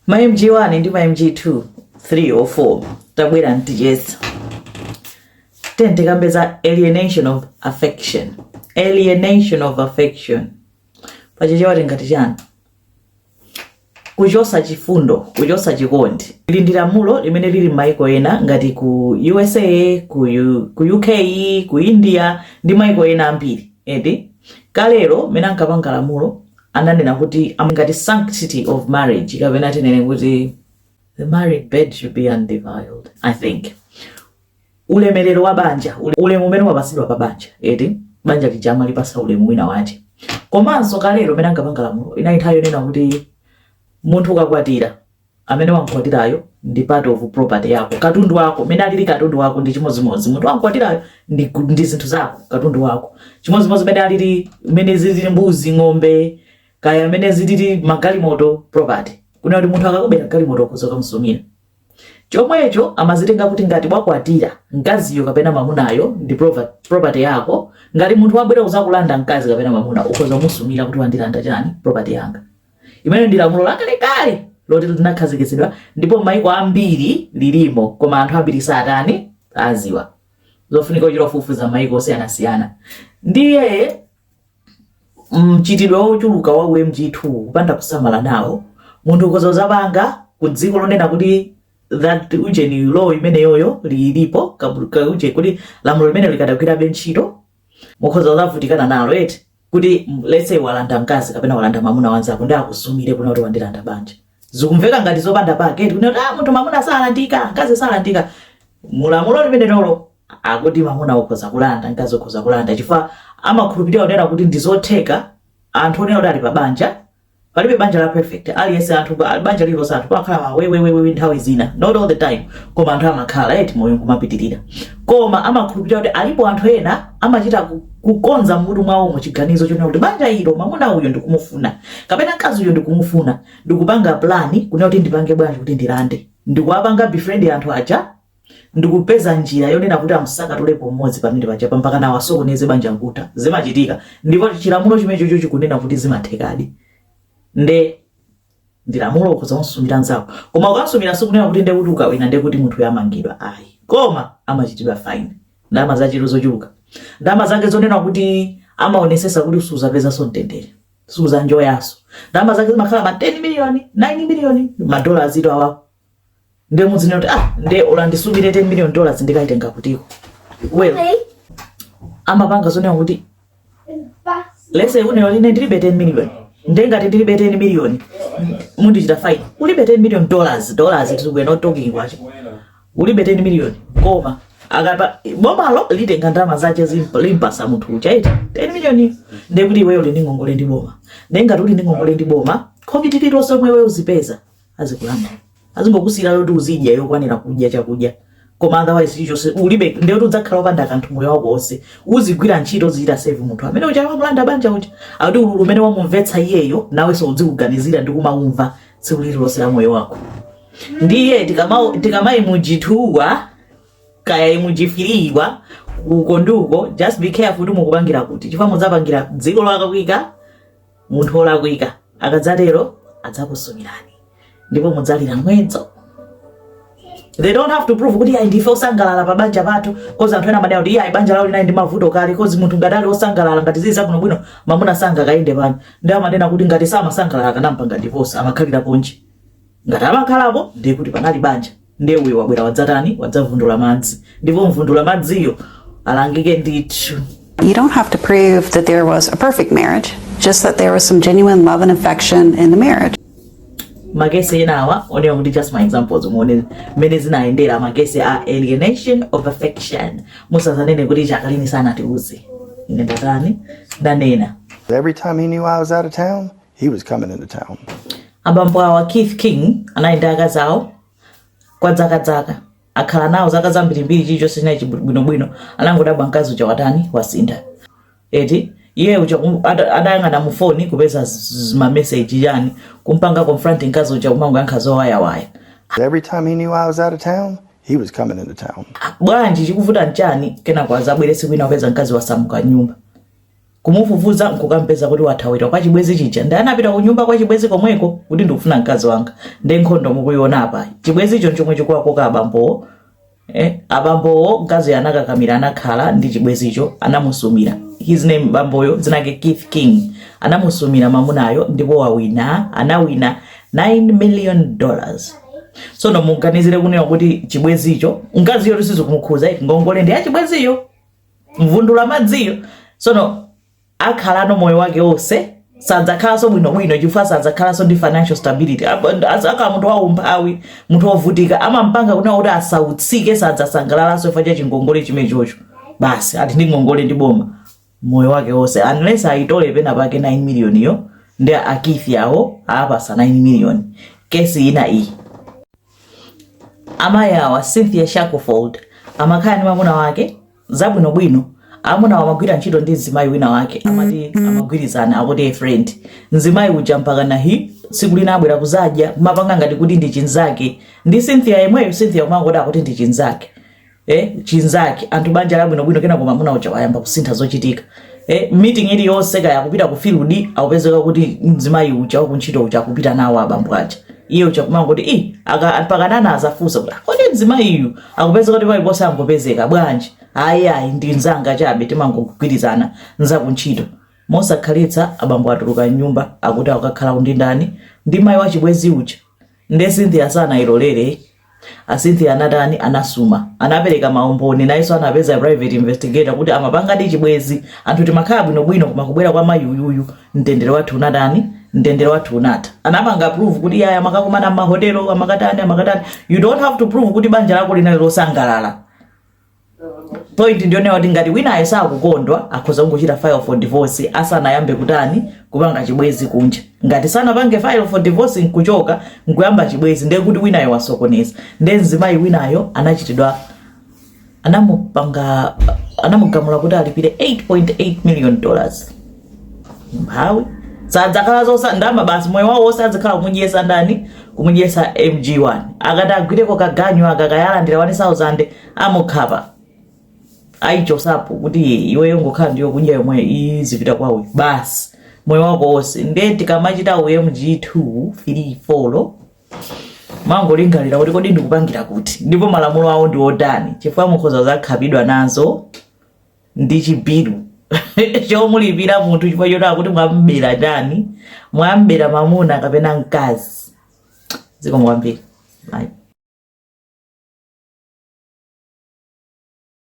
ma mg 1 ndi ma mg 2 3 or 4 tabwera kuti ticheze then tikambe za alienation of affection alienation of affection pachichewa tingati chani kuchosa chifundo kuchosa chikondi ili ndi lamulo limene lili m'maiko ena ngati ku usa ku uk ku india ndi maiko ena ambiri eti kalero mene ankapanga lamulo ananena kuti ngati sanctity of marriage kapena tinene kuti the married bed should be undefiled i think ulemerero wa banja ule- ulemu umene wapatsidwa pa banja eti banja lija amalipatsa ulemu wina wace komanso kalero mmene ankapanga lamulo inali nthawi yonena kuti munthu ukakwatira amene wamkwatirayo ndi part of property yako katundu wako mene alili katundu wako ndi chimodzimodzi munthu wamkwatirayo ndi, ndi zinthu zako katundu wako chimodzimodzi mene alili mene zilili mbuzi ng'ombe kaya mene zilili magalimoto property kunena kuti munthu akakubera galimoto ukhoza kumsumira chomwecho amazitenga kuti ngati wakwatira mkaziyo kapena mamunayo ndi property yako ngati munthu wabwera kuzakulanda mkazi kapena mamuna ukhoza kumusumira kuti wandilanda chani property yanga imene ndi lamulo lakalekale loti linakhazikitsidwa ndipo maiko ambiri lilimo koma anthu ambiri satani sadziwa zofunika kuchita kufufuza maiko osiyanasiyana ndiye mchitidwe wochuluka wa umg2 kupanda kusamala nawo munthu ukhoza kuzapanga ku dziko lonena kuti that ujeni law imeneyoyo lilipo kabu- ka- uje- kuti lamulo limenelo likadagwirabe ntchito mukhoza kuzavutikana nalo eti kuti mm, let's say walanda mkazi kapena walanda mamuna wa mnzako nde akusumire kunena kuti wandilanda banja zikumveka ngati zopanda pake eti kunena kuti ah, munthu mamuna salandika mkazi salandika mulamulo limenelolo akuti mamuna ukhoza kulanda mkazi ukhoza kulanda chifukwa amakhulupirira zonena kuti ndizotheka anthu onena kuti ali pa banja palibe banja la perfect aliyense anthu ba- banja lililonse anthu pamakhala mawewewewe nthawi zina not all the time koma anthu amakhala eti moyo nkumapitirira koma amakhulupirira kuti alipo anthu ena amachita ku- kukonza mmutu mwawo mu chiganizo chonena kuti banja ilo mamuna uyo ndikumufuna kapena mkazi uyo ndikumufuna ndikupanga plani kunena kuti ndipange bwanji kuti ndilande ndikuwapanga befriend anthu aja ndikupeza njira yonena kuti amutsakatulepo mmodzi pamene paja mpakana asokoneze banja nkutha zimachitika ndipo chilamulo chimenechocho chikunena kuti zimathekadi nde ndi lamulo ukhoza kumsumira nzako koma ukamsumira sikunena kuti nde kuti ukawina nde kuti munthu uja amangidwa ayi koma amachitidwa fine ndalama zachulu- zochuluka ndalama zake zonena kuti amaonetsetsa kuti suzapezanso mtendere suzanjoyanso ndalama zake zimakhala ma 10 miliyoni 9 miliyoni madola azito awapo nde muziona kuti ah nde ola ndisumire 10 million dollars ndikaitenga kutiko well amapanga zonena kuti let's say unena ine ndilibe 10 million nde ngati ndilibe 10 million mundichita fine ulibe 10 million dollars dollars it we're not talking kwacha ulibe 10 million koma akaba bomalo litenga ndalama zache zimp- limpasa munthu uja eti 10 million ndekuti iweyo uli ndi ngongole ndi boma nde ngati uli ndi ngongole ndi boma khobidi lilonse lomwe iweyo uzipeza azikulanda azingokusiyira zoti uzidya yokwanira kudya chakudya koma otherwise chilichonse ulibe ndiye kuti udzakhala wopanda kanthu moyo wako wonse uzigwira ntchito uzichita serve munthu amene uja wamulanda banja uja kuti ululu umene wamumvetsa iyeyo nawenso udziuganizira ndi kumawumva tsiku lililonse la moyo wako ndiye tikama- tikama MG2 kaya MG3 uko ndi uko just be careful kuti mukupangira kuti chifukwa mudzapangira dziko lolakwika munthu wolakwika akadzatero adzakusumirani ndipo mudzalira mwezo they don't have to prove kuti ayi ndife osangalala pa banja pathu coz anthu ena amanena kuti ayi banja lawo linali ndi mavuto kale coz munthu ngati ali osangalala ngati zili zabwino bwino mamuna sangakayende pano nde amanena kuti ngati samasangalala akanampanga divorce amakhalirapo nji ngati amakhalapo ndiye kuti panali banja ndiye uyo wabwera wadzatani wadzavundula madzi ndipo mvundula madziyo alangike ndithu You don't have to prove that there was a perfect marriage, just that there was some genuine love and affection in the marriage. makesi enawa onerani kuti just my examples muone mmene zinayendera makesi a alienation of affection musazanene kuti chaka chino sanatiuze ine ndatani ndanena Every time he knew I was out of town, He was coming into town. abambo awa keith king anali ndi akazi awo kwa zakazaka akhala nawo zaka zambirimbiri chilichonse chinali bwinobwino anangodabwa mkazi uja watani wasintha eti iye uja kum- ada- adayang'ana mu foni kupeza z- z- mameseji yani kumpanga confront mkazi uja kumangoyankha zowayawaya Every time he knew I was out of town, he was coming into town. bwanji chikuvuta nchani kenako azabwere tsiku lina kupeza mkazi wasamuka nyumba kumufufuza nkukampeza kuti wathawira kwa chibwezi chija nde anapita kunyumba kwa chibwezi komweko kuti ndikufuna mkazi wanga nde nkhondo mukuiona apa chibwezicho nchomwe chikuwakoka abambowo eh, abambowo mkazi anakakamira anakhala ndi chibwezicho anamusumira his name bamboyo dzina lake keith king anamusumira mamunayo ndipo anawina anawina 9 million dollars sono muganizire kunena kuti chibwezicho mkaziyo sizikumukhuza ngongole ndi ya chibweziyo mvundula madziyo sono akhala no moyo wake wonse sadzakhalanso bwinobwino chifukwa sadzakhalanso ndi financial stability azakhala munthu waumphawi munthu wovutika amampanga kunena kuti asautsike sadzasangalalanso chifukwa cha chingongole chimenechocho basi ali ndi ngongole ndi boma moyo wake wonse unless ayitole pena pake 9 million yo nde a keith awo apatsa 9 million kesi ina iyi amayi awa cynthia shackelford amakhala ndi mwamuna wake zabwinobwino amunawo amagwira ntchito ndi mzimayi wina wake amati amagwirizana akuti a friend mzimayi uja mpaka nahi tsiku lina abwera kuzadya mapanga ngati kuti ndi chinzake ndi cynthia yemweyo cynthia kumangoti akuti ndi chinzake eh, chinzake anthu banja labwinobwino kenako mamuna uja wayamba kusintha zochitika eh, meeting iliyonse kaya kupita ku field akupezeka kuti mzimayi uja wakuntchito uja akupita nawo abambo aja iye uja kumangoti i akapakanana azafunsa kuti ah, kodi mzimayi uyu akupezeka kuti paliponse angopezeka bwanji ayi ayi ndi nzanga chabe timangogwirizana za ku ntchito mosakhalitsa abambo atuluka nyumba akuti akakhala ndi ndani ndi mayi wachibwenzi uja nde cynthia sanayilolere a cynthia anatani anasuma anapereka maumboni nayenso anapeza private investigator kuti amapangadi chibwenzi anthu timakhala bwinobwino koma kubwera kwa mayi uyuyu mtendere wathu unatani mtendere wathu unatha anapanga prove kuti yaya amakakumana m'mahotelo amakatani amakatani you don't have to prove kuti banja lako linali losangalala point ndiyonena kuti ngati winayo sakukondwa akhoza kungochita file for divorce asanayambe kutani kupanga chibwenzi kunja ngati sanapange file for divorce nkuchoka nkuyamba chibwenzi ndiye kuti winayo wasokoneza ndiye mzimayi winayo anachitidwa anamupanga anamugamula kuti alipire 8.8 million dollars mphawi sadzakhalanso nazo ndalama basi moyo wawo wonse adzakhala akumudyetsa ndani kumudyetsa mg1 akati agwireko kaganyu akakaalandira 1000 amukhapa ayichotsapo kuti iweyo ungokhala ndi yokudya yomwe izipita kwawe basi moyo wako wonse nde tikamachita u mg2 3 4 muzingolingalira kuti kodi ndikupangira kuti ndipo malamulo awo ndi otani chifukwa mukhoza kuzakhapidwa nazo ndi chibilu chomulipira munthu chifukwa choti akuti mwambera chiyani mwambera mamuna kapena mkazi dziko mwambiri